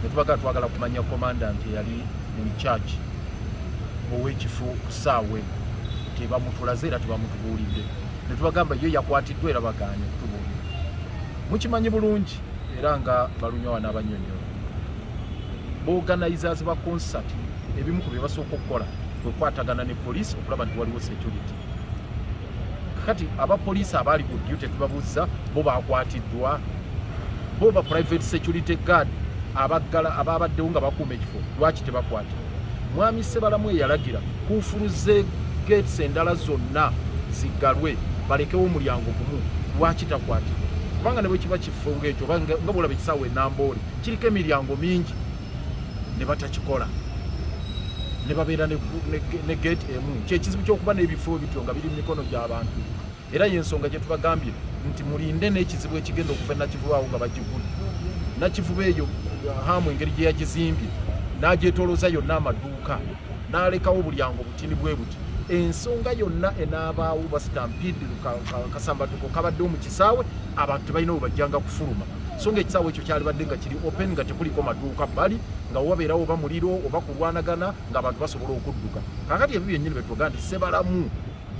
netubagala twagala kumanya commandant eyali mu church owekifo kusaawe tebamutulaze era tebamutubuulidde netubagamba yo yakwatiddwa era bagaanye kutubuulira mukimanyi bulungi era nga balunyawa n'abanyonyola boganizers ba concert ebimu ku bye basooka okukola kwekwatagana ne poliisi okulaba nti waliwo security kati aba police abali ku duty tubabuzza bo bakwatiddwa bo ba private security guard abaggala ababaddewo nga bakuuma ekifo lwaki tebakwata mwami sebalamu eyalagira kuufuluze gates endala zonna zigalwe balekewo omulyango gumu lwaki takwatibwa kubanga ne bwe kiba kifo ngaekyo nga bwolaba ekisaawa enamboole kiriko emiryango mingi ne batakikola ne babeera ne geeti emu kyekizibu kyokuba n'ebifo ebityo nga biri mu mikono gy'abantu era yensonga gye tubagambye nti mulinde n'ekizibu ekigenda okuva nakivubaawo nga bagigula nakivuba eyo hamu engeri gye yagizimbye n'agyetolooza yonna amaduuka n'alekawo bulyango butini bwe buti ensonga yonna enaabaawo basitampidi kasambatuko kabaddewo mu kisaawe abantu tebalina we bajjanga kufuluma so nga ekisaawe ekyo kyalibadde nga kiri open nga tekuliko maduuka bali nga wabeerawo oba muliro oba kulwanagana ngaabantu basobola okudduka kakati ebyo byennyini betwoga nti sebalamu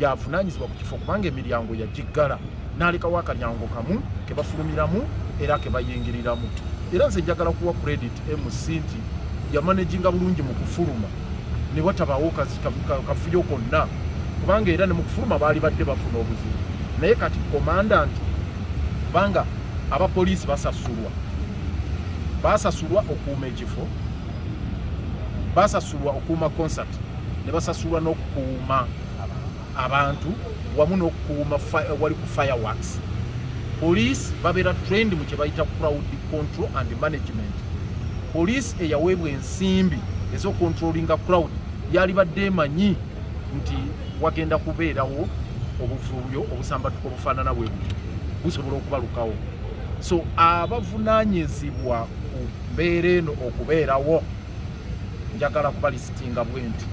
yavunanyizibwa ku kifo kubanga emiryango yagiggala nalekawo akalyango kamu kebafulumiramu era kebayingiriramu era nze njagala kuwa credit mc nti yamanaginga bulungi mu kufuluma ne watabaawo kafuyo konna kubanga era ne mu kufuluma baali badde bafuna obuzibu naye kati komandanti kubanga abapoliisi basasulwa basasulwa okuuma ekifo basasulwa okuuma concert ne basasulwa n'okukuuma abantu wamu n'okukuuma wali ku fireworks poliisi babeera trend mu kye bayita crowd control and management poliisi eyaweebwa ensimbi ez'okontrolinga crowd yalibadde emanyi nti wagenda kubeerawo obuvuyo obusambatuka obufaanana bwe buti busobola okubalukawo so abavunaanyizibwa ku mbeera eno okubeerawo njagala kuba lisitinga bwe nti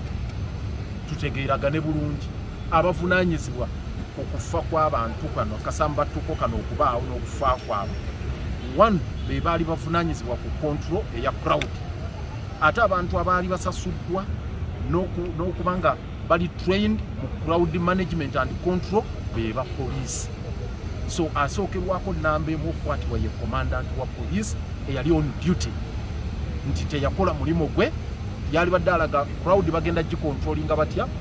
tutegeeragane bulungi abavunaanyizibwa ku kufa kw'abantu kano kasambattuko kano okubaawo n'okufa kwabwe one be baali bavunaanyizibwa ku kontrol eya crowd ate abantu abaali basasuddwa n'okuba nga bali trained mu crowd management and control be ba poliisi so asookerwako namba emu okukwatibwa ye commandant wa poliisi eyali on duty nti teyakola mulimu gwe yalibadde alaga crowd bagenda gikontrolinga batya